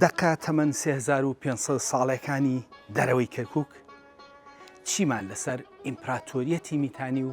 دەقە تەمەن 3500 ساڵەکانی دەرەوەی کەرکک چیمان لەسەر ئیمپراتۆریەتی میتانی و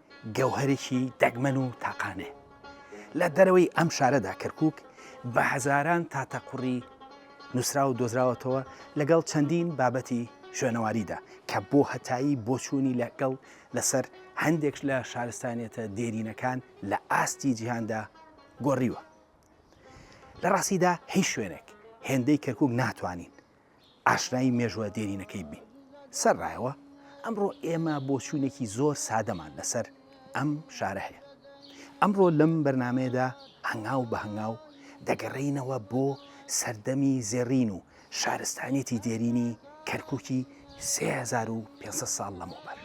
گەوهەرێکی دەگمەن و تاقانەیە. لە دەرەوەی ئەم شارەدا کەرکووک بە هەزاران تاتەقوڕی نووسراو و دۆزراوەتەوە لەگەڵ چەندین بابەتی شوێنەواریدا کە بۆ هەتایی بۆچوونی لەگەڵ لەسەر هەندێک لە شارستانیەتە دێرینەکان لە ئاستی جیهاندا گۆڕیوە. لە ڕاستیدا هیچ شوێنێک هێندەی کەرکووک ناتوانین ئاشنایی مێژوە دێرینەکەی بین سەر ڕایەوە ئەمڕۆ ئێمە بۆچوونێکی زۆر سادەمان لەسەر ئەم شارە هەیە ئەمڕۆ لەم بەرنمەیەدا هەنگاو بە هەنگاو دەگەڕینەوە بۆ سەردەمی زێڕین و شارستانیەتی دێرینی کەرکووکی 3500 ساڵ لەمەوبەر.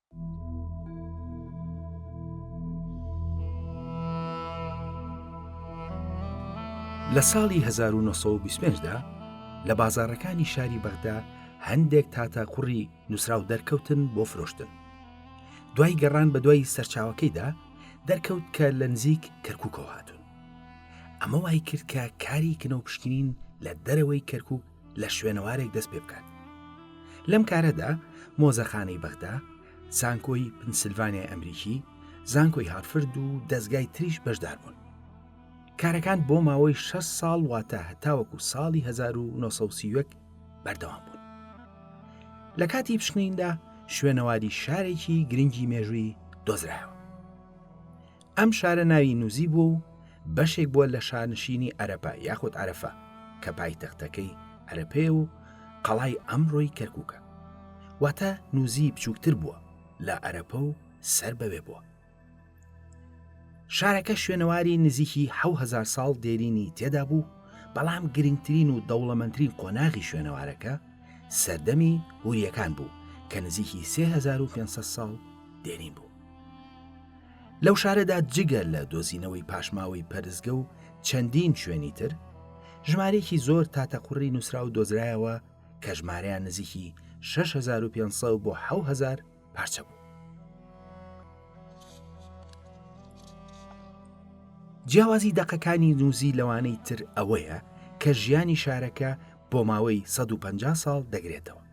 لە ساڵی 1925 دا لە بازارەکانی شاری بەغدا هەندێک تاتا کوڕی نووسراو دەرکەوتن بۆ فرۆشتن دوای گەڕان بە دوای سەرچاوەکەیدا دەرکەوت کە لە نزیک کەرکووکەوە هاتوون ئەمە وای کرد کە کاری کنەو پشکنین لە دەرەوەی کەرکک لە شوێنەوارێک دەست پێ بکات لەم کارەدا مۆزەخانەی بەغدا زانکۆی پنسلڤانیای ئەمریکی زانکۆی هارفرد و دەستگای تریش بەشدار بوون کارەکان بۆ ماوەی 6 ساڵ واتە هەتاوەکو ساڵی 1970 بەردەوام بوون لە کاتی پشکنیندا شوێنەواری شارێکی گرنگی مێژووی دۆزرایەوە ئەم شارە ناوی نوزی بووە و بەشێک بووە لە شانشینی ئەرەپە یاخود عرفە کە پایتەختەکەی ئەرەپەیە و قەڵای ئەمڕۆی کەرکووکە واتە نوزی بچووکتر بووە لە ئەرەپە و سەر بەوێ بووە شارەکە شوێنەواری نزیکی هزار ساڵ دێرینی تێدا بوو بەڵام گرنگترین و دەوڵەمەندترین قۆناغی شوێنەوارەکە سەردەمی هوریەکان بوو کە نزیکی 3500 ساڵ دێرین بوو لەو شارەدا جگە لە دۆزینەوەی پاشماوەی پەرزگە و چەندین شوێنی تر ژمارەیەکی زۆر تاتەقڕی نووسراو دۆزرایەوە کە ژمارەیان نزیکی 6500 بۆ 1970 پارچە بوو جیاوازی دەقەکانی نووزی لەوانەی تر ئەوەیە کە ژیانی شارەکە بۆ ماوەی 150 ساڵ دەگرێتەوە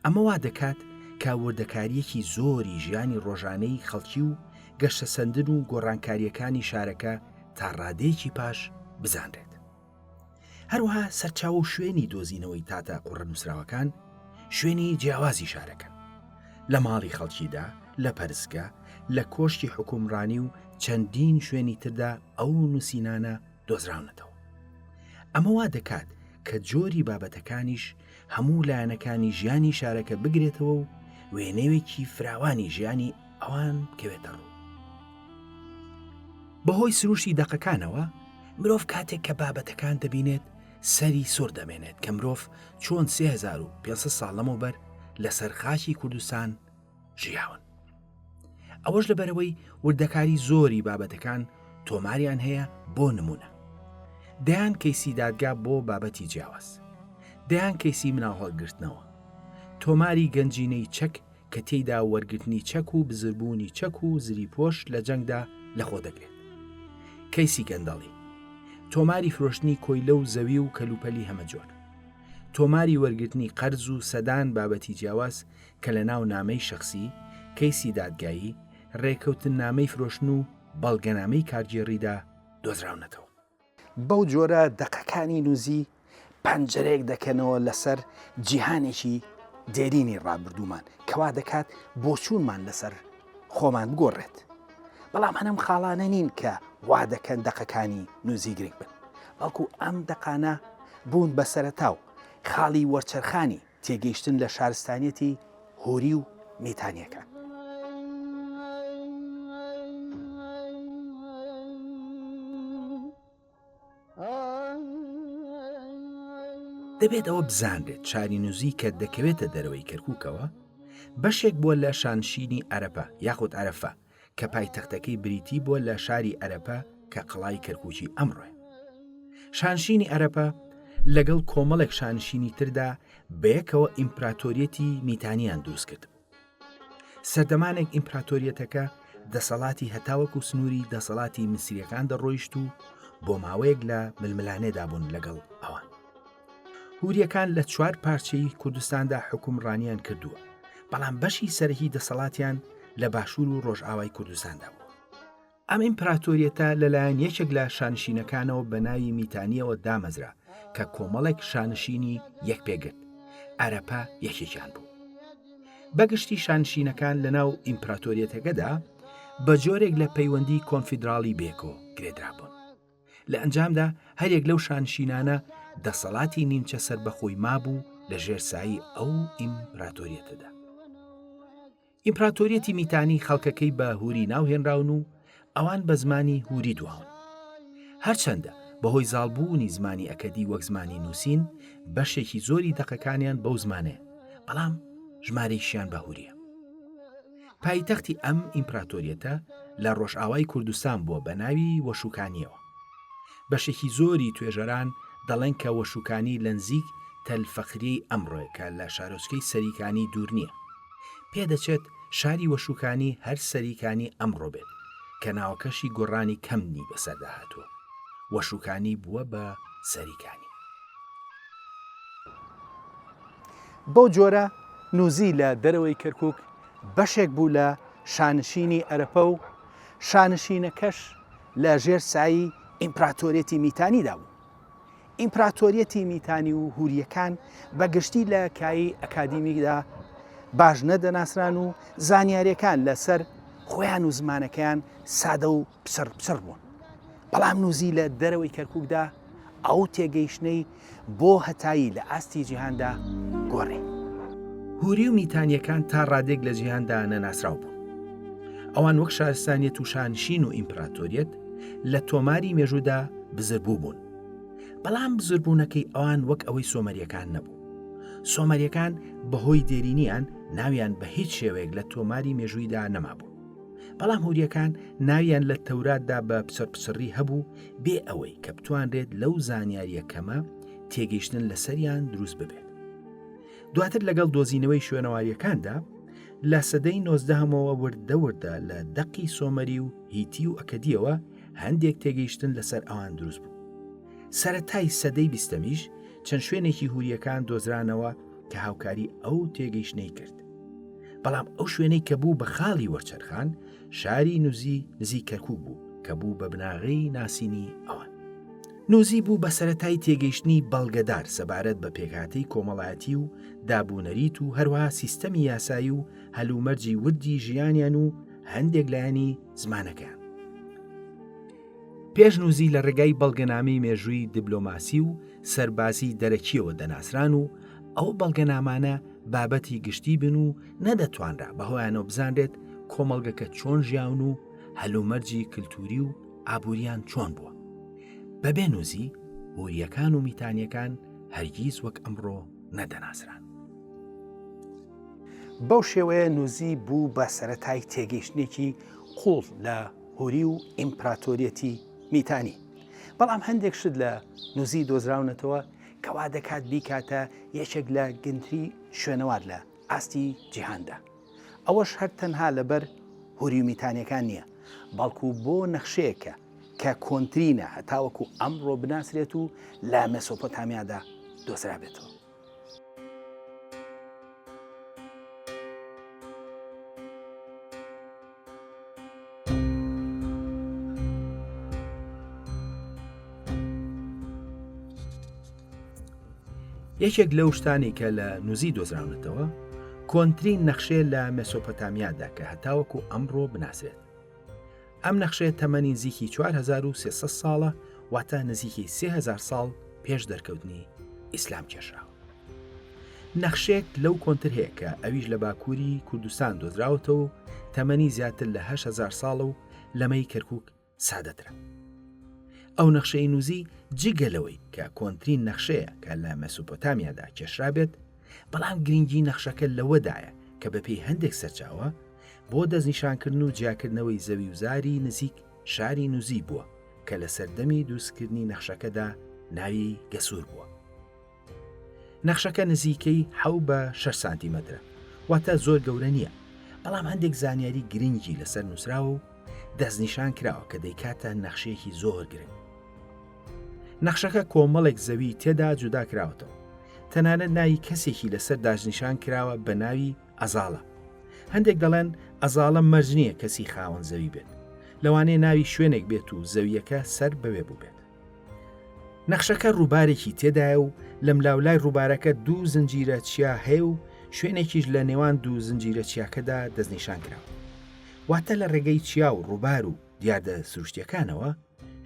ئەمە وا دەکات کە وردەکاریەکی زۆری ژیانی ڕۆژانەی خەڵکی و گەشتە سندن و گۆڕانکاریەکانی شارەکە تا ڕادەیەکی پاش بزانرێت. هەروها سەرچاو و شوێنی دۆزینەوەی تاتە قوڕە نووسراوەکان شوێنی جیاوازی شارەکەن. لە ماڵی خەڵکیدا، لە پەرستگە، لە کۆشکی حکومڕانی و چەندین شوێنی تردا ئەو نووسینانە دۆزراونەتەوە. ئەمە وا دەکات کە جۆری بابەتەکانیش هەموو لایەنەکانی ژیانی شارەکە بگرێتەوە و وێنەوێکی فراوانی ژیانی ئەوان بکەوێتە ڕوو. بەهۆی سروشتی دەقەکانەوە مرۆڤ کاتێک کە بابەتەکان دەبینێت سەری سۆر دەمێنێت کە مرۆڤ چۆن 3500 ساڵ لەمەوبەر لەسەر خاچی کوردستان ژیاون ئەوەش لەبەرەوەی وردەکاری زۆری بابەتەکان تۆماریان هەیە بۆ نمونە دەیان کەیسی دادگا بۆ بابەتی جیاواز دەیان کەیسی مناڵ هەڵگرتنەوە تۆماری گەنجینەی چەک کە تێیدا وەرگرتنی چەک و بزربوونی چەک و زری پۆش لە جەنگدا لەخۆ دەگرێت کەیسی گەندەڵی تۆماری فرۆشتنی کۆیلە و زەوی و کەلوپەلی هەمەجۆر تۆماری وەرگرتنی قەرز و سەدان بابەتی جیاواز کە لە ناو نامەی شەخسی، کەیسی دادگایی، رێکەوتننامەی فرۆشتن و بەڵگەنامەی کارگێڕیدا دۆزراونەتەوە. بەو جۆرە دەقەکانی نوزی پەنجەرەیەک دەکەنەوە لەسەر جیهانێکی دێرینی رابردوومان کە وا دەکات بۆچوونمان لەسەر خۆمان بگۆڕێت. بەڵام هەر ئەم خاڵانە نین کە وا دەکەن دەقەکانی نوزی گرنگ بن، بەڵکو ئەم دەقانە بوون بە سەرەتا و خاڵی وەرچەرخانی تێگەیشتن لە شارستانیەتی هۆری و میتانیەکان. دەبێت ئەوە بزانرێت چارینوزی کە دەکەوێتە دەرەوەی کەرکووکەوە بەشێک بووە لە شانشینی عەرەپە یاخود عرفە کە پایتەختەکەی بریتی بووە لە شاری ئەرەپە کە قەڵای کەرکوچی ئەمڕۆێ شانشینی ئەرەپە لەگەڵ کۆمەڵێک شانشینی تردا بەیەکەوە ئیمپراتۆریەتی میتانیان دروست کرد سەردەمانێک ئیمپراتۆریەتەکە دەسەڵاتی هەتاوەک و سنووری دەسەڵاتی میسریەکان دەڕۆیشت و بۆ ماوەیەک لە ململانێدا بوون لەگەڵ ئەوان هوریەکان لە چوار پارچەی کوردستاندا حکومڕانیان کردووە بەڵام بەشی سەرهی دەسەڵاتیان لە باشوور و ڕۆژئاوای کوردستاندا بوو ئەم ئیمپراتۆریەتە لەلایەن یەکێک لە شانشینەکانەوە بە ناوی میتانیەوە دامەزرا کە کۆمەڵێک شانشینی یەک پێگرت ئەرەپە یەکێکیان بوو بەگشتی شانشینەکان لە ناو ئیمپراتۆریەتەکەدا بە جۆرێک لە پەیوەندی کۆنفیدراڵی بێکۆ گرێدرابوون لە ئەنجامدا هەریەک لەو شانشینانە دەسەڵاتی نیمچە سربەخۆی مابوو لە ژێرسایی ئەو ئیمپراتۆریەتەدا ئیمپراتۆریەتی میتانی خەڵکەکەی بە هوری ناوهێنراون و ئەوان بە زمانی هوری دواون هەرچەندە بەهۆی زاڵبوونی زمانی ئەکەدی وەک زمانی نووسین بەشێکی زۆری دەقەکانیان بەو زمانێ بەڵام ژمارەیشیان بەهوریە پایتەختی ئەم ئیمپراتۆریەتە لە ڕۆژئاوای کوردستان بووە بە ناوی وەشوکانییەوە. بەشێکی زۆری توێژەران دەڵێن کە وەشوکانی لە نزیک تەل فەخریەی ئەمڕۆیە کە لە شارۆچکەی سەریکانی دوور نییە. پێدەچێت شاری وەشوکانی هەر سەریکانی ئەمڕۆ بێت کە ناوەکەشی گۆڕانی کەمنی بەسەردا هاتووە وەشوکانی بووە بە سەریکانی. بەو جۆرە نوزی لە دەرەوەی کەرکوک بەشێک بوو لە شانشینی ئەرەپە و شانشینەکەش لە ژێر سایی ئیمپراتۆریەتی میتانیدا بوو. ئیمپراتۆریەتی میتانی و هوریەکان بە گشتی لە کایی ئەکادیمیدا باش نەدەناسران و زانیاریەکان لەسەر خۆیان و زمانەکەیان سادە و پچڕ پچڕ بوون. بەڵام نوزی لە دەرەوەی کەرکوکدا ئەو تێگەیشتنەی بۆ هەتایی لە ئاستی جیهاندا گۆڕی. هوری و میتانیەکان تا ڕادێک لە جیهاندا نەناسراو بوون. ئەوان وەک شارستانیەت و شانشین و ئیمپراتۆریەت لە تۆماری مێژوودا بزربوو بوون. بەڵام بزربوونەکەی ئەوان وەک ئەوەی سۆمەریەکان نەبوو. سۆمەریەکان بەهۆی دێرینیان ناویان بە هیچ شێوەیەک لە تۆماری مێژوویدا نەمابوو. بەڵام هوریەکان ناویان لە تەوراتدا بە پچڕپچڕی هەبوو بێ ئەوەی کە بتوانرێت لەو زانیاریە کەمە تێگەیشتن لەسەریان دروست ببێت. دواتر لەگەڵ دۆزینەوەی شوێنەواریەکاندا لە سەدەی نۆزدەهەمەوە وردەوردە لە دەقی سۆمەری و هیتی و ئەکەدیەوە هەندێک تێگەیشتن لەسەر ئەوان دروست بوو. سەتای سەدەی بیستەمیش چەند شوێنێکی هوریەکان دۆزرانەوە کە هاوکاری ئەو تێگەیشتنەی کرد. بەڵام ئەو شوێنەی کە بوو بە خاڵی وەرچەرخان شاری نوزی نزی کەرکوک بوو کە بوو بە بناغەی ناسینی ئەوان. نوزی بوو بە سەتای تێگەیشتنی بەڵگەدار سەبارەت بە پێکهاتەی کۆمەڵایەتی و دابوونەریت و هەروەها سیستەمی یاسایی و هەلومەرجی وردی ژیانیان و هەندێک لایەنی زمانەکەیان. پێش نوزی لە ڕێگای بەڵگەنامەی مێژووی دیبلۆماسی و سەربازی دەرەکیەوە دەناسران و ئەو بەڵگەنامانە بابەتی گشتی بن و نەدەتوانرا بەهۆیانەوە بزانرێت کۆمەڵگەکە چۆن ژیاون و هەلومەرجی کللتوری و ئابووریان چۆن بووە بەبێ نووزی هوریەکان و میتانیەکان هەرگیز وەک ئەمڕۆ نەدەناسران بەو شێوەیە نووزی بوو بە سەتای تێگەیشتێکی قوڵ لە هوری و ئیمپراتۆریەتی میتانی بەڵام هەندێک شت لە نووزی دۆزراونەتەوە کەوا دەکات بیکاتە یەکێک لە گەنتری شوێنەوار لە ئاستی جیهاندا. ئەوەش هەر تەنها لەبەر هوری و میتانیەکان نیە، بەڵکو بۆ نەخشەیەکە کە کۆنترینە هەتاوەکو ئەمڕۆ بناسرێت و لە مێسۆپۆتامیادا دۆزرابێتەوە. یەکێک لەو شتانی کە لە نوزی دۆزراونەتەوە کۆنترین نەخشێ لە مەسۆپەتامیادا کە هەتاوەکو ئەمڕۆ بناسرێت ئەم نەخشێت تەمەنی نزیکی 4300 ساڵە واتە نزیکی 3000 ساڵ پێش دەرکەوتنی ئیسلام کێشراوە نەخشێک لەو کۆنتر هەیە کە ئەویش لە باکووری کوردستان دۆزراوەتە و تەمەنی زیاتر لە هزار ساڵە و لەمەی کەرکک سادەترە ئەو نەخشەی نووزی جگەلەوەی کە کۆنترین نەخشەیە کە لە مەسوپۆتامیادا کێشرابێت بەڵام گرنگی نەخشەکە لەوەدایە کە بەپێی هەندێک سەرچاوە بۆ دەستنیشانکردن و جیاکردنەوەی زەوی وزاری نزیک شاری نووزی بووە کە لە سەردەمی دووسکردنی نەخشەکەدا ناوی گەسوور بووە نەخشەکە نزیکەی حەو بە 6 سانتیمەترە واتە زۆر گەورە نییە بەڵام هەندێک زانیاری گرنگی لەسەر نووسراوە و دەستنیشان کراوە کە دەیکاتە نەخشەیەکی زۆر گرنگ نەخشەکە کۆمەڵێک زەوی تێدا جودا کراوەتەوە تەنانەت ناوی کەسێکی لەسەر داژنیشان کراوە بە ناوی ئەزاڵە هەندێک دەڵێن ئەزاڵە مەرج نییە کەسی خاوەن زەوی بێت لەوانەیە ناوی شوێنێک بێت و زەویەکە سەر بەوێ بووبێت نەخشەکە ڕووبارێکی تێدایە و لەملاولای ڕووبارەکە دوو زنجیرە چیا هەیە و شوێنێکیش لە نێوان دوو زنجیرە چیاکەدا دەستنیشان کراوە واتە لە ڕێگەی چیا و ڕووبار و دیاردە سروشتیەکانەوە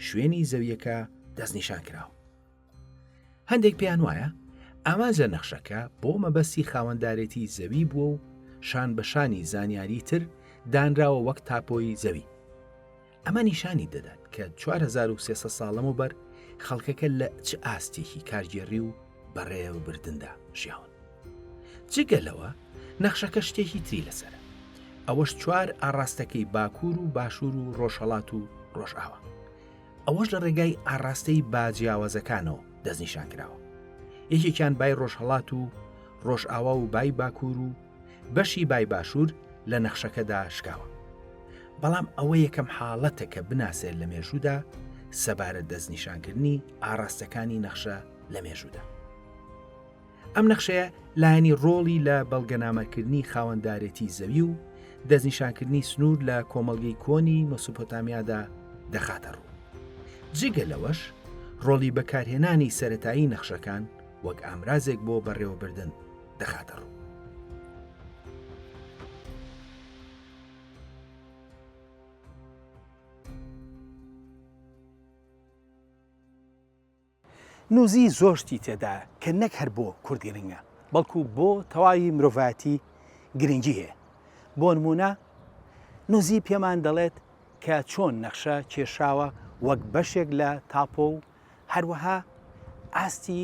شوێنی زەویەکە دەستنیشان کراوە هەندێک پێیان وایە ئامانج لە نەخشەکە بۆ مەبەستی خاوەندارێتی زەوی بووە و شان بەشانی زانیاری تر دانراوە وەک تاپۆی زەوی ئەمە نیشانی دەدات کە چوار هەزار و سێ سەد ساڵ لەمەوبەر خەڵکەکە لە چ ئاستێکی کارگێڕی و بەڕێوەبردندا ژیاون. جگە لەوە نەخشەکە شتێکی تری لەسەرە. ئەوەش چوار ئاڕاستەکەی باکوور و باشوور و ڕۆژهەڵات و ڕۆژئاوا. ئەوەش لە ڕێگای ئاڕاستەی با جیاوازەکانەوە دەستنیشان کراوە. یەکێکیان بای ڕۆژهەڵات و ڕۆژئاوا و بای باکوور و بەشی بای باشوور لە نەخشەکەدا شکاوە. بەڵام ئەوە یەکەم حاڵەتە کە بناسرێت لە مێژوودا سەبارەت دەستنیشانکردنی ئاراستەکانی نەخشە لە مێژوودا. ئەم نەخشەیە لایەنی ڕۆڵی لە بەڵگەنامەکردنی خاوەندارێتی زەوی و دەستنیشانکردنی سنوور لە کۆمەڵگەی کۆنی مەسوپۆتامیادا دەخاتە ڕوو. جگە لەوەش ڕۆڵی بەکارهێنانی سەتایی نەخشەکان وەک ئامرازێک بۆ بەڕێوەبردن دەخاتە ڕوو. نوزی زۆر شتی تێدا کە نەک هەر بۆ کورد گرنگە بەڵکو بۆ تەواوی مرۆڤایەتی گرنگی هەیە بۆ نمونە نوزی پێمان دەڵێت کە چۆن نەخشە کێشاوە وەک بەشێک لە تاپۆ و هەروەها ئاستی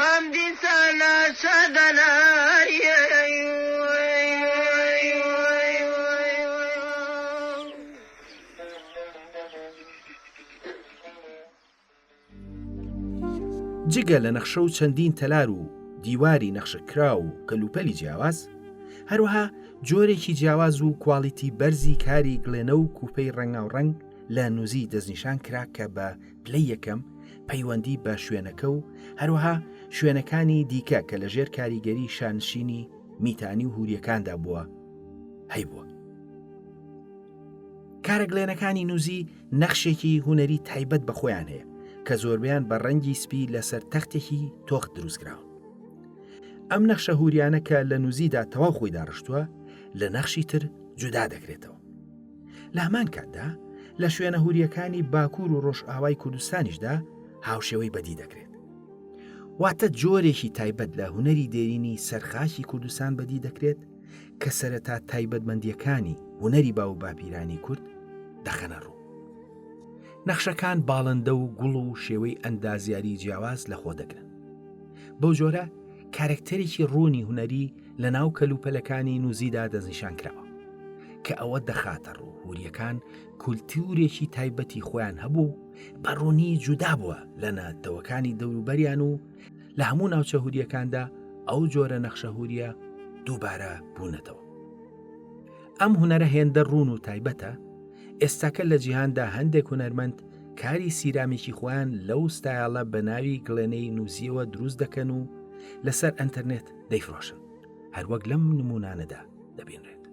ئەم دیسانە شادەناریی جگە لە نەخشە و چەندین تەلار و دیواری نەخشە کراو و کەلوپەلی جیاواز، هەروەها جۆرێکی جیاواز و کواڵیتی بەرزی کاری گڵێنە و کوپەی ڕەنگاوڕەنگ لە نوزی دەستنیشان کرا کە بە، پلەی یەکەم پەیوەندی بە شوێنەکە و هەروەها شوێنەکانی دیکە کە لە ژێر کاریگەری شانشینی میتانی و هوریەکاندا بووە هەیبووە کارەگلێنەکانی نووزی نەخشێکی هوەری تایبەت بە خۆیان هەیە کە زۆربیان بە ڕەنگی سپی لەسەر تەختێکی تۆخت دروستکراوە ئەم نەخشە هوریانە کە لە نووزیدا تەواو خۆی داڕشتووە لە نەخشی تر جودا دەکرێتەوە لە هەمان کاتدا لە شوێنە هوریەکانی باکوور و ڕۆژئاوای کوردستانیشدا هاوشێوەی بەدی دەکرێت. واتە جۆرێکی تایبەت لە هوەری دێرینی سەرخاکی کوردستان بەدی دەکرێت کە سەرەتا تایبەتمەندیەکانی هوەری با و باپیرانی کورد دەخەنە ڕوو. نەخشەکان باڵندە و گوڵ و شێوەی ئەندازیاری جیاواز لەخۆ دەگرن. بەو جۆرە کارکتەرێکی ڕوونی هوەری لە ناو کەلوپەلەکانی نوزیدا دەستنیشان کراوە کە ئەوە دەخاتە ڕوو هوریەکان کولتورێکی تایبەتی خۆیان هەبوو بەڕوونی جودا بووە لە نەتەوەکانی دەوروبەریان و لە هەموو ناوچە هوریەکاندا ئەو جۆرە نەخشەهوریە دووبارە بوونەتەوە ئەم هوەرە هێندە ڕوون و تایبەتە ئێستاکە لە جیهاندا هەندێک هوەرمەند کاری سیرامیکی خۆیان لەو ستایالە بە ناوی گڵێنەی نووسیەوە دروست دەکەن و لەسەر ئەتەرنێت دەیفرۆشن هەروەک لەم نمونانەدا دەبینرێت.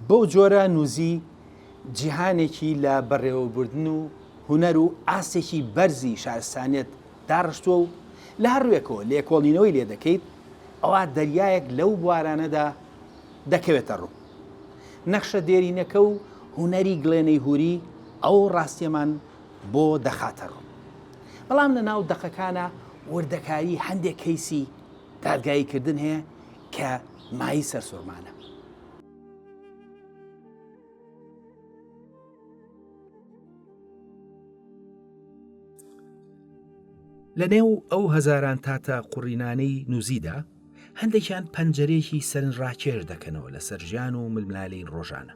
بەو جۆرە نوزی جیهانێکی لە بەڕێوەبردن و هوەر و ئاستێکی بەرزی شارستانیت داڕشتووە و لە هەر ڕوێکەوە لێکۆڵینەوەی لێ دەکەیت ئەوە دەریایەک لەو بوارانەدا دەکەوێتە ڕوو نەخشە دێرینەکە و هوەری گڵێنەی هوری ئەو ڕاستیەمان بۆ دەخاتە ڕوو. بەڵام لە ناو دەقەکانا وردەکاری هەندێک کەیسی دادگایی کردن هەیە کە مایی سەرسورمانە. لە نێو ئەو هەزاران تاتە قوڕینانەی نووزیدا هەندێکیان پەنجەرێکی سەرنج ڕاکێش دەکەنەوە لەسەر ژیان و ململانێی ڕۆژانە.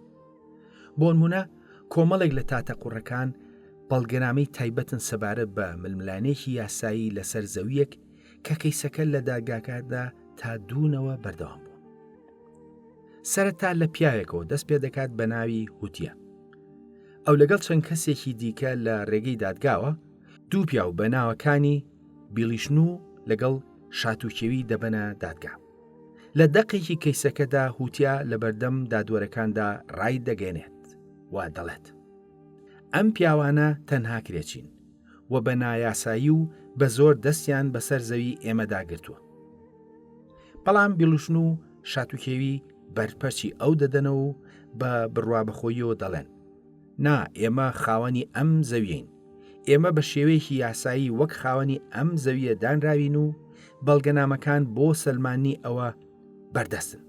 بۆنمونە کۆمەڵێک لە تاتە قوڕەکان بەڵگەنامەی تایبەتن سەبارەت بە ململانێکی یاسایی لەسەر زەویەک کە کەیسەکە لە داگاکاردا تا دوونەوە بەردەوام بوو سەرەتا لە پیاوێکەوە دەست پێ دەکات بە ناوی هوتیە ئەو لەگەڵ چەند کەسێکی دیکە لە ڕێگەی دادگاوە دوو پیاو بە ناوەکانی بیڵیشن و لەگەڵ شاتوکێوی دەبەنە دادگا لە دەقێکی کەیسەکەدا هوتیا لە بەردەم دادوەرەکاندا ڕای دەگەێنێت و دەڵێت ئەم پیاوانە تەنها کرێچین و بە نایاسایی و بە زۆر دەستیان بەسەر زەوی ئێمەداگرتووە بەڵام بیڵوشن و شاتوکێوی بەرپەرچی ئەو دەدەنەوە و بە بڕوا بەخۆیەوە دەڵێن نا، ئێمە خاوەنی ئەم زەویەین. ئێمە بە شێوەیەکی یاسایی وەک خاوەنی ئەم زەویە دانراوین و بەڵگەنامەکان بۆ سەلماننی ئەوە بەردەستن.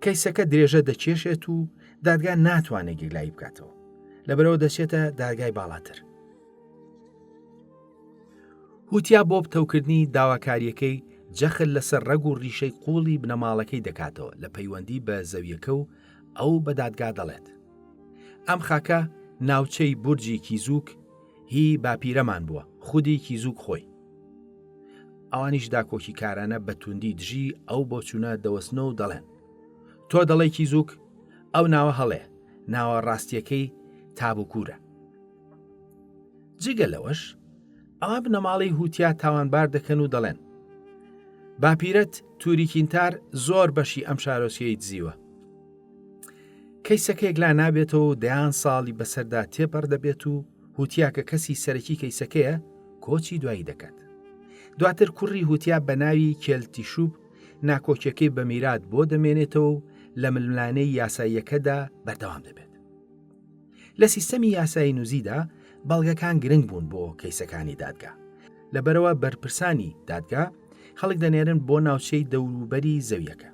کەیسەکە درێژە دەکێشێت و دادگا ناتوانێت گیرلایی بکاتەوە. لەبەرەوە دەچێتە دادگای باڵاتر. هوتیا بۆ پتەوکردنی داواکاریەکەی جەخت لەسەر ڕەگ و ڕیشەی قوڵی بنەماڵەکەی دەکاتەوە لە پەیوەندی بە زەویەکە و ئەو بە دادگا دەڵێت، ئەم خاکە ناوچەی بورجی کیزوک هی باپیرەمان بووە، خودی کیزوک خۆی. ئەوانیش داکۆکیکارانە بە توندی دژی ئەو بۆچوونە دەوەستن و دەڵێن، تۆ دەڵێی کیزوک، ئەو ناوە هەڵەیە، ناوە ڕاستییەکەی تابوکورە. جگە لەوەش ئا بنەماڵەی هوتیا تاوانبار دەکەن و دەڵێن باپیرەت تووریکینتار زۆر بەشی ئەم شارۆچیەی دزیوە کەیسەکەیەک لا نابێتەوە دەیان ساڵی بەسەردا تێپەر دەبێت و هوتیا کە کەسی سەرەکی کەیسەکەیە کۆچی دوایی دەکات دواتر کوڕی هوتیا بە ناوی کێلتی شوب ناکۆکیەکەی بە میرات بۆ دەمێنێتەوە و لە ململانەی یاساییەکەدا بەردەوام دەبێت لە سیستەمی یاسایی نوزیدا بەڵگەکان گرنگ بوون بۆ کەیسەکانی دادگا لەبەرەوە بەرپرسانی دادگا خەڵک دەنێرن بۆ ناوچەی دەوروبەری زەویەکە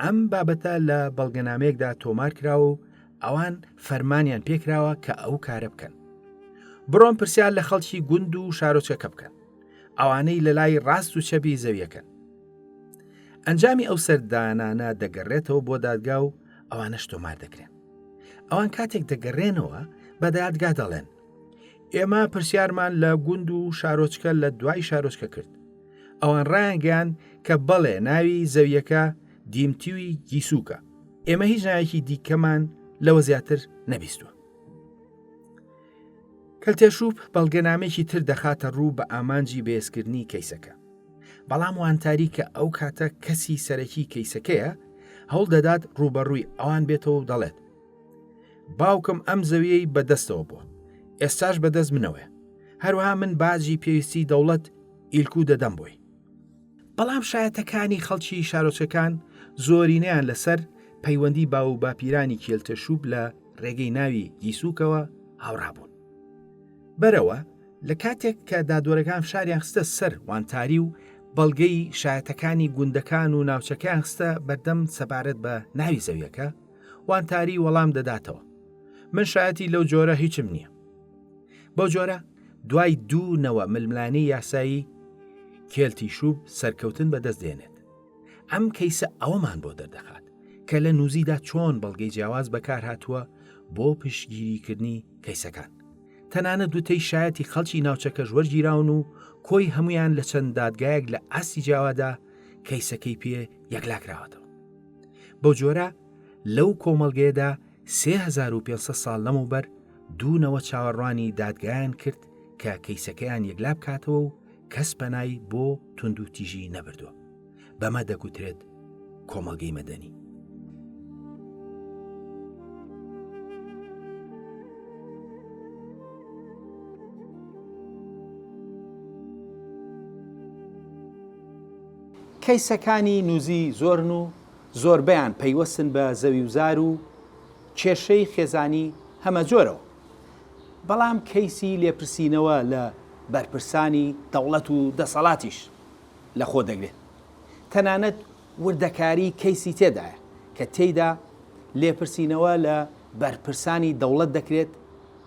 ئەم بابەتە لە بەڵگەنامەیەکدا تۆمار کراوە و ئەوان فەرمانیان پێکراوە کە ئەو کارە بکەن بڕۆن پرسیار لە خەڵکی گوند و شارۆچەکە بکەن ئەوانەی لە لای ڕاست و چەبی زەویەکەن ئەنجامی ئەو سەردانانە دەگەڕێتەوە بۆ دادگا و ئەوانەش تۆمار دەکرێن ئەوان کاتێک دەگەڕێنەوە بە دادگا دەڵێن ئێمە پرسیارمان لە گوند و شارۆچکە لە دوای شارۆچکە کرد ئەوان ڕایانگەیان کە بەڵێ ناوی زەویەکە دیمتیوی گیسوکە ئێمە هیچ ناوێکی دیکەمان لەوە زیاتر نەبیستوە کەلتێشوب بەڵگەنامێکی تر دەخاتە ڕوو بە ئامانجی بەێزکردنی کەیسەکە بەڵام وانتاری کە ئەو کاتە کەسی سەرەکی کەیسەکەیە هەوڵ دەدات ڕوبەڕووی ئەوان بێتەوە و دەڵێت باوکم ئەم زەویەی بەدەستەوە بووە ئێستاش بەدەست منەوەە هەروها من باجی پێویستی دەوڵەت ئیلکو دەدەم بۆی بەڵام شایەتەکانی خەڵکی شارۆچکەکان زۆرینەیان لەسەر پەیوەندی باو و باپیرانی کێلتەشوب لە ڕێگەی ناوی گیسوکەوە هاوڕابوون. بەرەوە لە کاتێک کە دادوەرەکان فشاریان خستە سەر وانتاری و بەڵگەی شایەتەکانی گوندەکان و ناوچەکەیان خستە بەردەم سەبارەت بە ناوی زەویەکە وانتاری وەڵام دەداتەوە من شایەتی لەو جۆرە هیچم نییە بەو جۆرە دوای دوو نەوە ململانی یاسایی کێلتی شووب سەرکەوتن بەدەست دێنێت ئەم کەیسە ئەوەمان بۆ دەردەخات کە لە نووزیدا چۆن بەڵگەی جیاواز بەکار هاتووە بۆ پشتگیریکردنی کەیسەکان تەنانە دوتەی شایەتی خەڵکی ناوچەکەش وەرگیراون و کۆی هەمویان لە چەند دادگایەک لە ئاستی جیاوادا کەیسەکەی پێ یەکلاکراوەتەوە بەو جۆرە لەو کۆمەڵگەیەدا سێ هەزار و پێنج سەد ساڵ لەمەوبەر دوو نەوە چاوەڕوانی دادگایان کرد کە کەیسەکەیان یەکلا بکاتەوە و کەس پەنای بۆ توندوتیژی نەبردووە بەمە دەگوترێت کۆمەڵگەی مەدەنی کەیسەکانی نوزی زۆرن و زۆربەیان پەیوەستن بە زەویوزار و کێشەی خێزانی هەمەجۆرەوە، بەڵام کەیسی لێپرسینەوە لە بەرپرسانی دەوڵەت و دەسەڵاتیش لەخۆدەگرێت، تەنانەت وردەکاری کەیسی تێدایە کە تێیدا لێپرسینەوە لە بەرپرسانی دەوڵەت دەکرێت،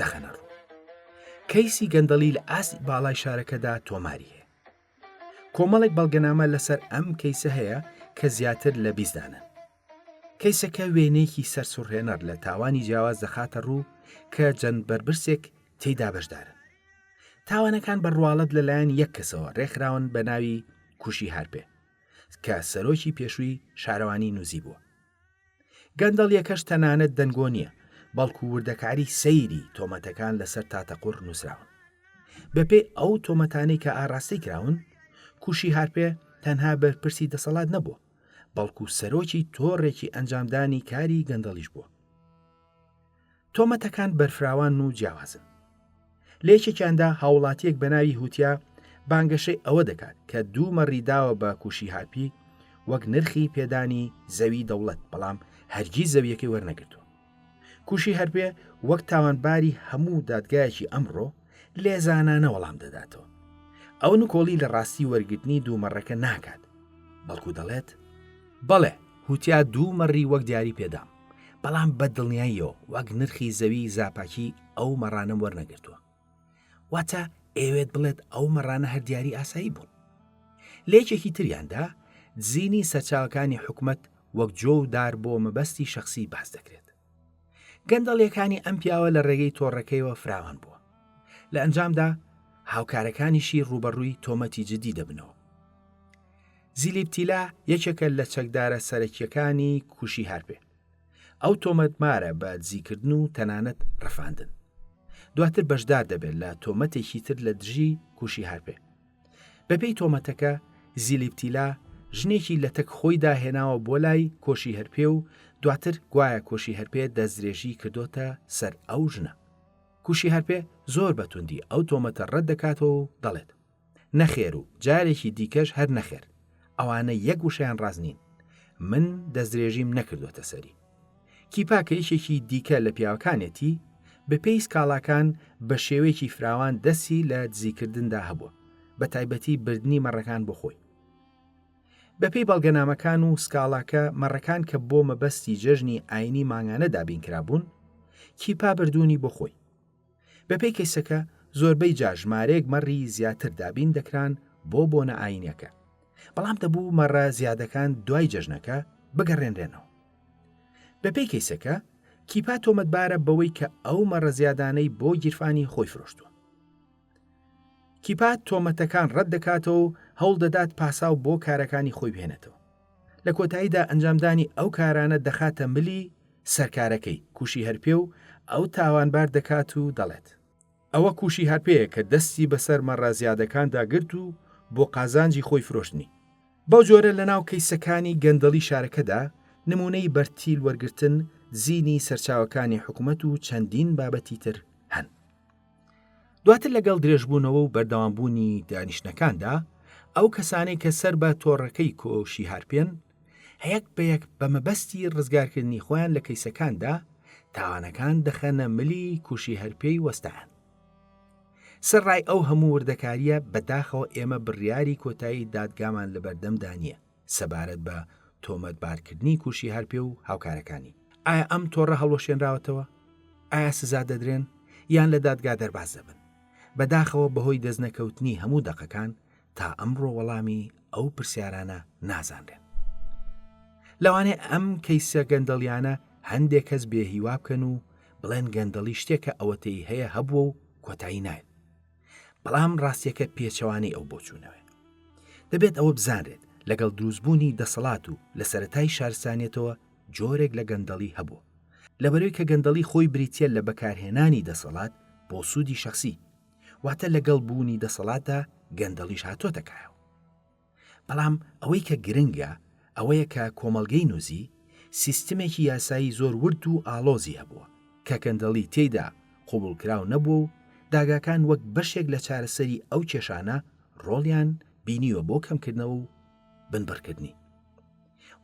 دەخەنە ڕوو کەیسی گەندەڵی لە ئاست باڵای شارەکەدا تۆماری هەیە کۆمەڵێک بەڵگەنامە لەسەر ئەم کەیسە هەیە کە زیاتر لە بیزدانن کەیسەکە وێنەیەکی سەرسوڕهێنەر لە تاوانی جیاواز دەخاتە ڕوو کە جەند بەربرسێک تێدا بەشدارن تاوانەکان بەڕواڵەت لەلایەن یەک کەسەوە ڕێکخراون بە ناوی کوشی هەرپێ کە سەرۆکی پێشووی شارەوانی نووزی بووە گەندەڵیەکەش تەنانەت دەنگۆ نییە، بەڵکو وردەکاری سەیری تۆمەتەکان لەسەر تاتەقوڕ نووسراون. بەپێی ئەو تۆمەتانەی کە ئاراستەی کراون، کوشی هارپێ تەنها بەرپرسی دەسەڵات نەبووە، بەڵکو سەرۆکی تۆڕێکی ئەنجامدانی کاری گەندەڵیش بووە. تۆمەتەکان بەرفراوان و جیاوازن لە یەکێکیاندا هاوڵاتیەک بە ناوی هوتیا بانگەشەی ئەوە دەکات کە دوو مەڕی داوە بە کوشی هارپی وەک نرخی پێدانی زەوی دەوڵەت بەڵام هەرگی زەویەکەی وەرنەگرتو کوشی هەرپێ وەک تاوانباری هەموو دادگایەکی ئەمڕۆ لێزانانە وەڵام دەداتەوە ئەو نکۆڵی لە ڕاستی وەرگرتنی دوومەڕەکە ناکات بەڵکو دەڵێت بەڵێ هوتیا دوو مەڕی وەک دیاری پێدام بەڵام بە دڵنیاییەوە وەک نرخی زەوی زاپاکی ئەو مەڕانەم وەرنەگرتووە واتە ئەوێت بڵێت ئەو مەڕانە هەر دیاری ئاسایی بوون لێکێکی تریاندا دزینی سەرچاوەکانی حکومت وەک جۆ و دار بۆ مەبەستی شخصی باس دەکرێت گەندەڵیەکانی ئەم پیاوە لە ڕێگەی تۆڕەکەیەوە فراوان بووە لە ئەنجامدا هاوکارەکانیشی ڕوبەڕووی تۆمەتی جددی دەبنەوە زیلیپتیلا یەکێکە لە چەکدارە سەرەکیەکانی کوشی هەرپێ ئەو تۆمەتمارە بە دزیکردن و تەنانەت ڕفاندن دواتر بەشدار دەبێت لە تۆمەتێکی تر لە دژی کوشی هەرپێ بەپێی تۆمەتەکە زیلیپتیلا ژنێکی لە تەک خۆی داهێناوە بۆ لای کۆشی هەرپێ و دواتر گوایە کۆشی هەرپێ دەستدرێژی کردوتە سەر ئەو ژنە کوشی هەرپێ زۆر بەتوندی ئەو تۆمەتە ڕەت دەکاتەوە و دەڵێت نەخێر و جارێکی دیکەش هەر نەخێر ئەوانە یەک وشیان ڕاست نین من دەستدرێژیم نەکردوەتە سەری کیپا کە یشێکی دیکە لە پیاوەکانێتی بەپێی سکاڵاکان بە شێوەیەکی فراوان دەسی لە دزیکردندا هەبووە بە تایبەتی بردننی مەڕەکان بۆ خۆی بەپێی بەڵگەنامەکان و سکاڵاکە مەڕەکان کە بۆ مەبەستی جەژنی ئاینی مانگانە دابین کرابوون کیپا بردوونی بۆ خۆی بەپێی کەیسەکە زۆربەی جار ژمارەیەک مەڕی زیاتر دابین دەکران بۆ بۆنە ئاینیەکە بەڵام دەبوو مەڕە زیادەکان دوای جەژنەکە بگەڕێنرێنەوە بەپێی کەیسەکە کیپا تۆمەتبارە بەوەی کە ئەو مەڕە زیادانەی بۆ گیرفانی خۆی فرۆشتووە کیپا تۆمەتەکان ڕەت دەکاتەوە و هەوڵ دەدات پاساو بۆ کارەکانی خۆی بهێنێتەوە لە کۆتاییدا ئەنجامدانی ئەو کارانە دەخاتە ملی سەرکارەکەی، کوشی هەرپێ و ئەو تاوانبار دەکات و دەڵێت، ئەوە کوشی هەرپێیە کە دەستی بەسەر مەڕە زیادەکاندا گرت و بۆ قازانجی خۆی فرۆشتنی. بەو جۆرە لەناو کەیسەکانی گەندەڵی شارەکەدا نموونەی بەرتیل وەرگرتن، زینی سەرچاوەکانی حکومەت و چەندین بابەتی تر هەن. دواتر لەگەڵ درێژبوونەوە و بەردەوامبوونی دانیشتنەکاندا ئەو کەسانەی کە سەر بە تۆڕەکەی کۆشی هارپێن هەیەک بە یەک بە مەبەستی ڕزگارکردنی خۆیان لە کەیسەکاندا تاوانەکان دەخەنە ملی کوشی هەرپێی وەستان سەرڕای ئەو هەموو وردەکاریە بەداخەوە ئێمە بڕیاری کۆتایی دادگامان لە بەردەمدا نییە سەبارەت بە تۆمەتبارکردنی کوشی هەرپێ و هاوکارەکانی، ئایا ئەم تۆڕە هەڵوەشێنراوەتەوە؟ ئایا سزا دەدرێن یان لە دادگا دەرباز دەبن؟ بەداخەوە بەهۆی دەستنەکەوتنی هەموو دەقەکان تا ئەمڕۆ وەڵامی ئەو پرسیارانە نازانرێن. لەوانەیە ئەم کەیسە گەندەڵیانە هەندێک کەس بێهیوا بکەن و بڵێن گەندەڵی شتێکە ئەوەتەی هەیە هەبووە و کۆتایی نایەت، بەڵام ڕاستیەکە پێچەوانەی ئەو بۆچوونەوە دەبێت ئەوە بزانرێت لەگەڵ دروستبوونی دەسەڵات و لە سەتای شارسانیەتەوە جۆرێک لە گەندەڵی هەبوو لەبەروی کە گەندەڵی خۆی بریتە لە بەکارهێنانی دەسەڵات بۆ سوودی شخصی واتە لەگەڵ بوونی دەسەڵاتە گەندەڵیش هاتۆتەکایەوە بەڵام ئەوەی کە گرنگە ئەوەیە کە کۆمەڵگەی نوزی سیستمێکی یاسایی زۆر ورد و ئاڵۆزی هەبووە کە گەندەڵی تێیدا قبوڵکراو نەبووە و داگاکان وەک بەشێک لە چارەسەری ئەو کێشانە ڕۆڵیان بینیوە بۆ کەمکردنەوە و بنبڕکردنی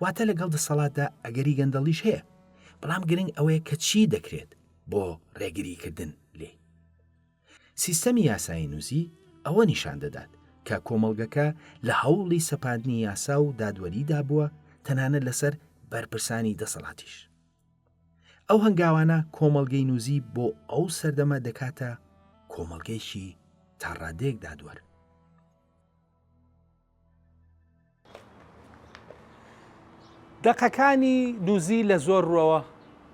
واتە لەگەڵ دەسەڵاتدا ئەگەری گەندەڵیش هەیە بەڵام گرنگ ئەوەیە کە چی دەکرێت بۆ ڕێگریکردن لێی سیستەمی یاسایینووسی ئەوە نیشان دەدات کە کۆمەڵگەکە لە هەوڵی سەپاندنی یاسا و دادوەریدا بووە تەنانە لەسەر بەرپرسانی دەسەڵاتیش. ئەو هەنگاوانە کۆمەڵگەی نووزی بۆ ئەو سەردەمە دەکاتە کۆمەڵگەیشی تا ڕادێک دادوەر. دەقەکانی دوزی لە زۆر ڕوەوە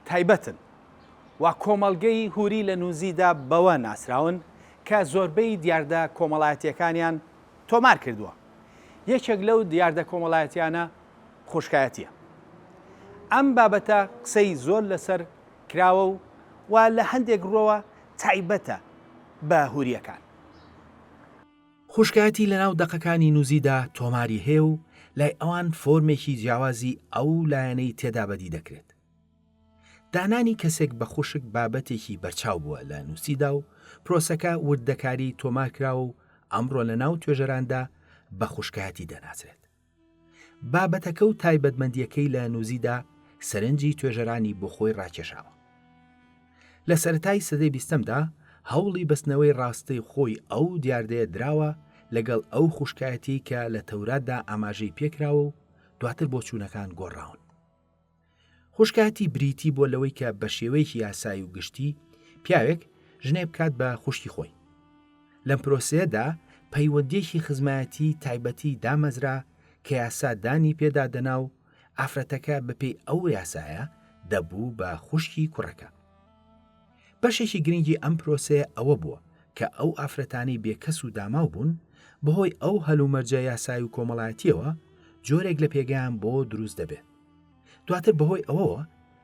تایبەتن و کۆمەڵگەی هوری لە نوزیدا بەوە ناسراون کە زۆربەی دیاردە کۆمەڵایەتیەکانیان تۆمار کردووە یەکێک لەو دیاردە کۆمەڵایەتیانە خوشکایەتیە ئەم بابەتە قسەی زۆر لەسەر کراوە و و لە هەندێک ڕۆوە تایبەتە بە هوریەکان خوشکایەتی لەناو دەقەکانی نوزیدا تۆماری هەیە و لای ئەوان فۆرمێکی جیاوازی ئەو لایەنەی تێدا بەدی دەکرێت. دانانی کەسێک بە خوشک بابەتێکی بەرچاو بووە لە نوسیدا و پرۆسەکە وردەکاری تۆمارکراوە و ئەمڕۆ لەناو توێژەراندا بە خوشکایەتی دەناسرێت. بابەتەکە و تایبەتمەندیەکەی لە نوزیدا سەرنجی توێژەرانی بۆ خۆی ڕاکێشاوە لە سەتای سەدەی بیستەمدا هەوڵی بەستنەوەی ڕاستی خۆی ئەو دیاردەیە دراوە لەگەڵ ئەو خوشکایەتی کە لە تەوراتدا ئاماژەی پێکراوە و دواتر بۆ چوونەکان گۆڕاون خوشکایەتی بریتی بۆ لەوەی کە بە شێوەیەکی یاسایی و گشتی پیاوێک ژنێ بکات بە خوشکی خۆی لەم پرۆسەیەدا پەیوەندیەکی خزمایەتی تایبەتی دامەزرا کە یاسا دانی پێدادەنا و ئافرەتەکە بەپێی ئەو یاسایە دەبوو بە خوشکی کوڕەکە بەشێکی گرنگی ئەم پرۆسەیە ئەوە بووە کە ئەو ئافرەتانی بێکەس و داماو بوون بەهۆی ئەو هەلومەرجە یاسای و کۆمەڵایەتیەوە جۆرێک لە پێگەیان بۆ دروست دەبێت دواتر بەهۆی ئەوەوە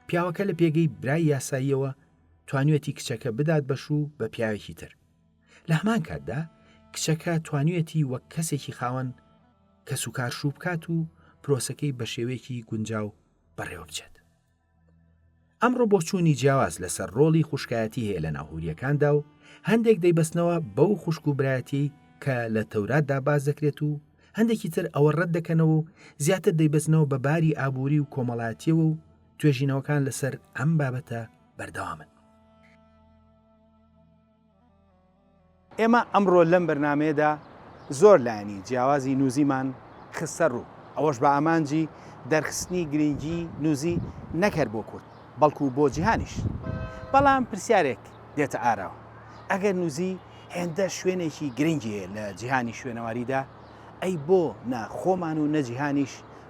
پیاوەکە لە پێگەی برای یاساییەوە توانوێتی کچەکە بدات بەش و بە پیاوێکی تر لە هەمان کاتدا کچەکە توانوێتی وەک کەسێکی خاوەن کە سوکار شوو بکات و پرۆسەکەی بە شێوەیەکی گونجاو بەڕێوە بچێت ئەمڕۆ بۆچوونی جیاواز لەسەر ڕۆڵی خوشکایەتی هەیە لەناو هورییەکاندا و هەندێک دەیبەستنەوە بەو خوشک و برایەتیەی کە لە تەوراتدا باس دەکرێت و هەندێکی تر ئەوە ڕەت دەکەنەوە و زیاتر دەیبەستنەوە بە باری ئابووری و کۆمەڵایەتیەوە و توێژینەوەکان لەسەر ئەم بابەتە بەردەوامن. ئێمە ئەمڕۆ لەم بەرنامەیەدا زۆر لایەنی جیاوازی نوزیمان خستە ڕوو، ئەوەش بە ئامانجی دەرخستنی گرنگی نوزی نەک هەر بۆ کورد بەڵکو بۆ جیهانیش. بەڵام پرسیارێک دێتە ئاراوە، ئەگەر نوزی هێندە شوێنێکی گرنگی هەیە لە جیهانی شوێنەواریدا، ئەی بۆ نە خۆمان و نە جیهانیش،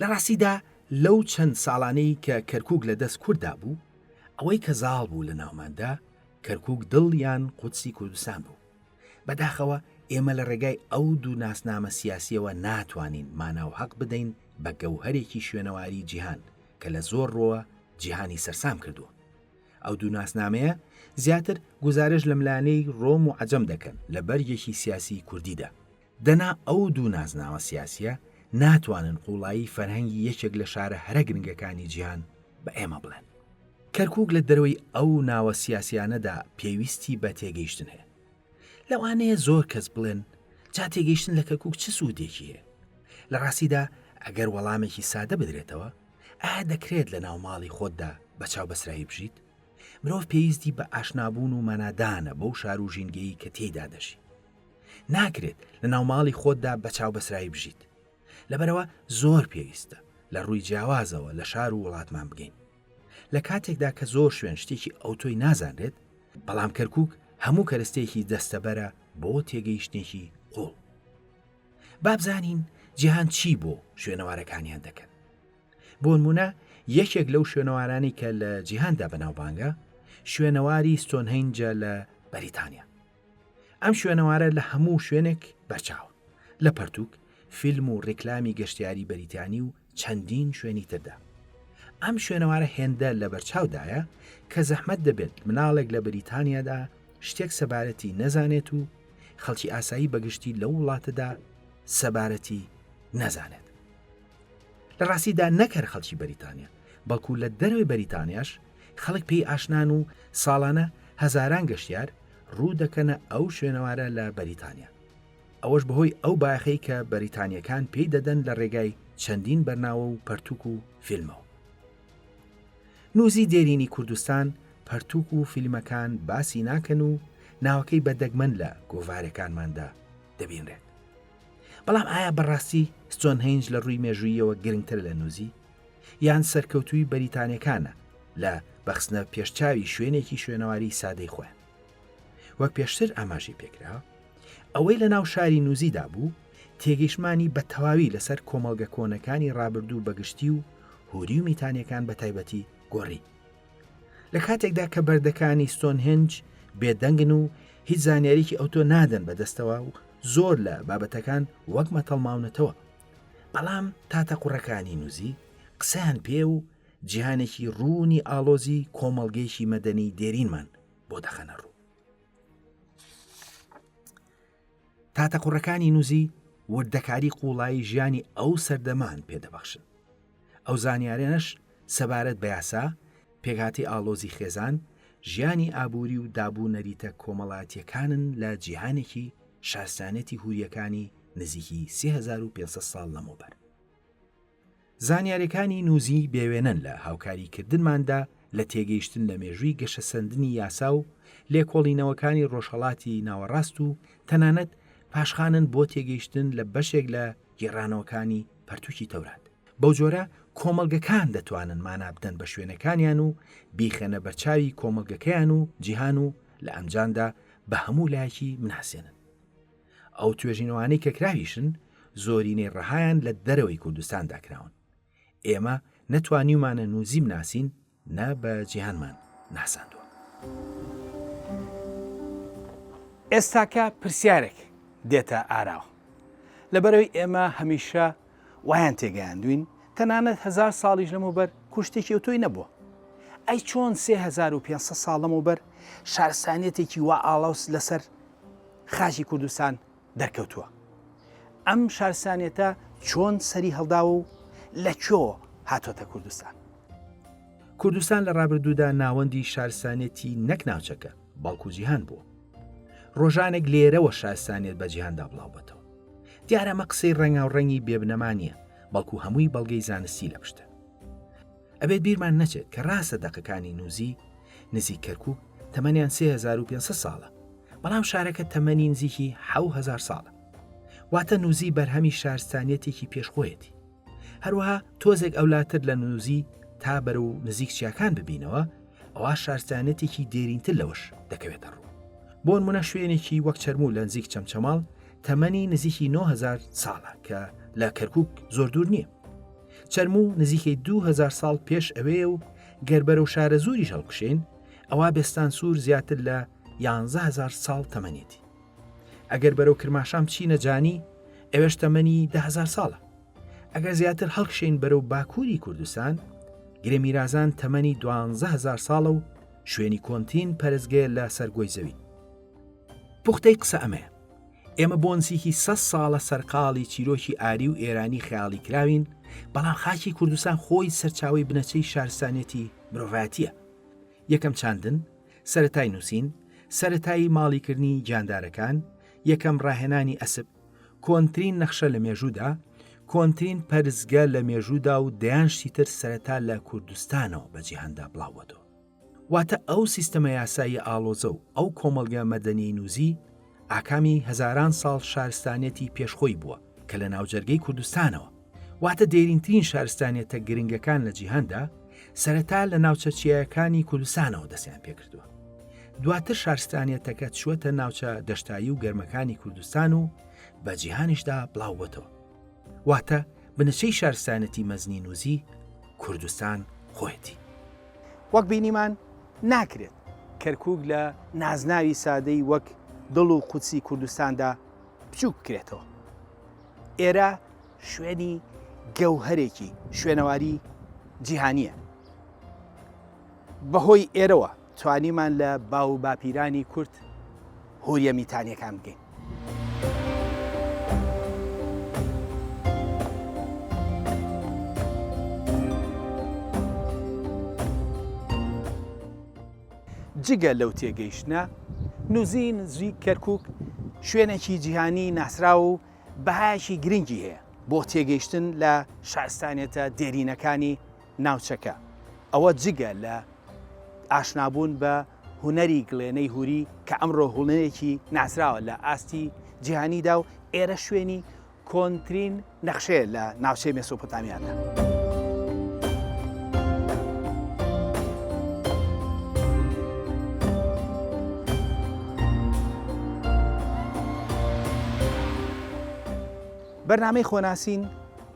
لە ڕاستیدا لەو چەند ساڵانەی کە کەرکووک لە دەست کورددا بوو، ئەوەی کە زاڵ بوو لە ناوماندا، کەرکووک دڵ یان قودسی کوردستان بوو. بەداخەوە ئێمە لە ڕێگای ئەو دوو ناسنامە سیاسییەوە ناتوانین مانا و هەق بدەین بە گەوهەرێکی شوێنەواریی جیهان کە لە زۆر ڕووەوە جیهانی سەرسام کردووە. ئەو دوو ناسنامەیە زیاتر گوزارش لە ملانێی ڕۆم و عەجەم دەکەن لە بەرگێکی سیاسیی کوردیدا. دەنا ئەو دوو نازناوە سیاسییە ناتوانن قووڵایی فەرهەنگی یەکێک لە شارە هەرە گرنگەکانی جیهان بە ئێمە بڵێن. کەرکووک لە دەرەوەی ئەو ناوە سیاسییانەدا پێویستی بە تێگەیشتن هەیە. لەوانەیە زۆر کەس بڵێن جا تێگەیشتن لە کەرکووک چ سوودێکی هەیە؟ لە ڕاستیدا ئەگەر وەڵامێکی سادە بدرێتەوە، ئایا دەکرێت لەناو ماڵی خۆتدا بە چاوبەسرایی بژیت؟ مرۆڤ پێویستی بە ئاشنابوون و مانادانە بەو شار و ژینگەی کە تێیدا دەژی. ناکرێت لە ناوماڵی خۆتدا بە چاو بەسرایی بژیت لەبەرەوە زۆر پێویستە لە ڕووی جیاوازەوە لە شار و وڵاتمان بگەین لە کاتێکدا کە زۆر شوێن شتێکی ئەو تۆی نازانرێت بەڵام کەرکک هەموو کەرستێکی دەستەبەرە بۆ تێگەیشتێکی قوڵ بابزانین جیهان چی بۆ شوێنەوارەکانیان دەکەن بۆنمونە یەکێک لەو شوێنەوارانی کە لە جیهاندا بەناوبانگە شوێنەواری ستۆنهینجە لە بەریتانیا ئەم شوێنەوارە لە هەموو شوێنێک بەرچاوە لە پەرتوک فیلم و ڕیکلامی گەشتیاری بەریتانی و چەندین شوێنی تردا ئەم شوێنەوارە هێندە لە بەرچاودایە کە زەحمەت دەبێت مناڵێک لە بریتانیادا شتێک سەبارەتی نەزانێت و خەڵکی ئاسایی بەگشتی لەو وڵاتەدا سەبارەتی نەزانێت لە ڕاستیدا نەکەر خەڵکی بەریتانیا بەڵکو لە دەروی بەریتانیاش خەڵک پێی ئاشنان و ساڵانە هەزاران گەشتیار ڕوو دەکەنە ئەو شوێنەوارە لە بەریتانیا. ئەوەش بەهۆی ئەو بایەخەی کە بەریتانییەکان پێی دەدەن لە ڕێگای چەندین بەرناوە و پەرتووک و فیلمەوە. نووزی دێرینی کوردستان پەرتووک و فیلمەکان باسی ناکەن و ناوەکەی بە دەگمەن لە گۆڤارەکانماندا دەبینرێت. بەڵام ئایا بەڕاستی ستۆنهەینج لە ڕووی مێژووییەوە گرنگترە لە نووزی؟ یان سەرکەوتووی بەریتانیەکانە لە بەخستنە پێشچاوی شوێنێکی شوێنەواری سادەی خۆیان وەک پێشتر ئاماژی پێکرا ئەوەی لە ناو شاری نووزیدا بوو تێگەیشمانی بە تەواوی لەسەر کۆمەڵگە کۆنەکانی ڕابردوو بەگشتی و هوری و میتانیەکان بە تایبەتی گۆڕی لە کاتێکدا کە بەردەکانی ستۆنهنج بێدەنگن و هیچ زانیاریکی ئەوتۆ نادەن بەدەستەوە و زۆر لە بابەتەکان وەک مەتەڵماونەتەوە بەڵام تاتە قوڕەکانی نوزی قسەیان پێ و جیهانێکی ڕوونی ئاڵۆزی کۆمەڵگەیەکی مەدەنی دێرینمان بۆ دەخەنە ڕوو تاتە قوڕەکانی نوزی وردەکاری قوڵایی ژیانی ئەو سەردەمان پێدەبەخشن ئەو زانیاریانەش سەبارەت بە یاسا، پێکهاتەی ئاڵۆزی خێزان، ژیانی ئابووری و داب و نەریتە کۆمەڵاتییەکانن لە جیهانێکی شارستانیەتی هورییەکانی نزیکی سێ هەزار و پێنج سەد ساڵ لەمەوبەر. زانیاریەکانی نوزی بێوێنەن لە هاوکاری کردنماندا لە تێگەیشتن لە مێژووی گەشەسەندنی یاسا و لێکۆڵینەوەکانی ڕۆژهەڵاتی ناوەڕاست و تەنانەت پاشخانن بۆ تێگەیشتن لە بەشێک لە گێڕانەوەکانی پەرتووکی تەورات. بەو جۆرە کۆمەڵگەکان دەتوانن مانا بدەن بە شوێنەکانیان و بیخەنە بەرچاوی کۆمەڵگەکەیان و جیهان و لە ئەنجامدا بە هەموو لایەکی بناسێنن. ئەو توێژینەوانەی کە کراویشن زۆرینەی ڕەهایان لە دەرەوەی کوردستاندا کراون. ئێمە نەتوانیومانە نوزی بناسین نا بە جیهانمان ناساندوە. ئێستاکە پرسیارێک دێتە ئاراوە، لەبەرئەوەی ئێمە هەمیشە وایان تێگەیاندوین تەنانەت هەزار ساڵیش لەمەوبەر کوشتێکی ئەوتۆی نەبوە، ئەی چۆن سێ هەزار و پێنج سەد ساڵ لەمەوبەر شارستانیەتێکی وا ئاڵۆز لەسەر خاکی کوردستان دەرکەوتووە ئەم شارسانێتە چۆن سەری هەڵداوە و لە کۆ هاتۆتە کوردستان کوردستان لە ڕابردوودا ناوەندی شارسانێتی نەک ناوچەکە بەڵکو جیهان بووە ڕۆژانێک لێرەوە شارسانێت بە جیهاندا بڵاوبەتەوە دیارەمە قسەی ڕەنگاو ڕەنگی بێبنەما نییە بەڵکو هەمووی بەڵگەی زانستی لە پشتە ئەبێت بیرمان نەچێت کە ڕاستە دەقەکانی نوزی نزیک کەرکوک تەمەنیان 3500 ساڵە، بەڵام شارەکە تەمەنی نزیکی 7000 ساڵە. واتە نوزی بەرهەمی شارستانیەتێکی پێش خۆیەتی. هەروەها تۆزێک ئەولاتر لە نوزی تا بەرەو نزیک چیاکان ببینەوە، ئەوا شارستانیەتێکی دێرینتر لەوەش دەکەوێتە ڕوو. بۆ نمونە شوێنێکی وەک چەرموو لە نزیک چەمچەماڵ تەمەنی نزیکی 9000 ساڵە کە لە کەرکوک زۆر دوور نیە. چەرموو نزیکەی دوو هەزار ساڵ پێش ئەوەیە و گەر بەرەو شارەزووریش هەڵکشێین ئەوا بێستان سوور زیاتر لە یانزەهزار ساڵ تەمەنێتی ئەگەر بەرەو کرماشان بچینە جانی ئەوێش تەمەنی دههزار ساڵە ئەگەر زیاتر هەڵکشین بەرەو باکووری کوردستان گرێ میرازان تەمەنی دوهزار ساڵە و شوێنی کۆنتین پەرزگەیە لە سەرگۆی زەوی پوختەی قسە ئەمەیە ئێمە بۆ نزیکی سە ساڵە سەرقاڵی چیرۆکی ئاری و ئێرانی خەیاڵی کراوین بەڵام خاکی کوردستان خۆی سەرچاوی بنەچەی شارستانیەتی مرۆڤاتیە یەکەم چاندن سەتای نووسین سەتایی ماڵیکردنی گیاندارەکان یەکەم ڕاهێنانی ئەسب کۆنترین نەخشە لە مێژوودا کۆنترین پەرزگە لە مێژوودا و دەیان شتیتر سەرەتا لە کوردستانەوە بە جیهاندا بڵاوەتەوە واتە ئەو سیستەمە یاسایی ئاڵۆزە و ئەو کۆمەڵگە مەدەنی نووزی ئاکامی هەزاران ساڵ شارستانیەتی پێشخۆی بووە کە لە ناوجەرگەی کوردستانەوە واتە دێرینترین شارستانیەتە گرنگەکان لە جیهاندا سەرەتا لە ناوچە چیایەکانی کوردستانەوە دەستیان پێکردووە دواتر شارستانیەتەکە چوەتە ناوچە دەشتایی و گەرمەکانی کوردستان و بە جیهانیشدا بڵاوبەتەوە واتە بنچەی شارستانەتی مەزنی نوزی کوردستان خۆیەتی. وەک بینیمان ناکرێت کەرکوک لە نازناوی سادەی وەک دڵ و قودسی کوردستاندا بچوک بکرێتەوە. ئێرە شوێنی گەوهەرێکی شوێنەواری جیهانییە. بەهۆی ئێرەوە توانیمان لە باو و باپیرانی کورد هوریە میتانیەکان بگەین. جگە لەو تێگەیشتنە، نوزین زوی کەرکوک شوێنێکی جیهانی ناسراو و بەهایەکی گرنگی هەیە بۆ تێگەیشتن لە شارستانیەتە دێرینەکانی، ناوچەکە، ئەوە جگە لە ئاشنابوون بە هونەری گڵێنەی هوری کە ئەمڕۆ هونەرێکی ناسراوە لە ئاستی جیهانیدا و ئێرە شوێنی کۆنترین نەخشەیە لە ناوچەی مێسۆپۆتامیادا. بەرنامەی خۆناسین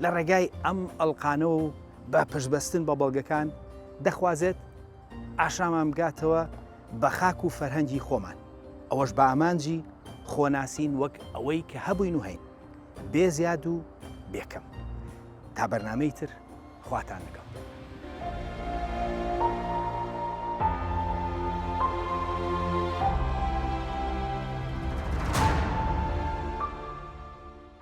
لە ڕێگای ئەم ئەڵقانەوە و بە پشتبەستن بە بەڵگەکان دەخوازێت ئاشامان بگاتەوە بە خاک و فەرهەنگی خۆمان ئەوەش بە ئامانجی خۆناسین وەک ئەوەی کە هەبووین و هەین بێ زیاد و بێکەم تا بەرنمەی تر خواتان لەگەڵ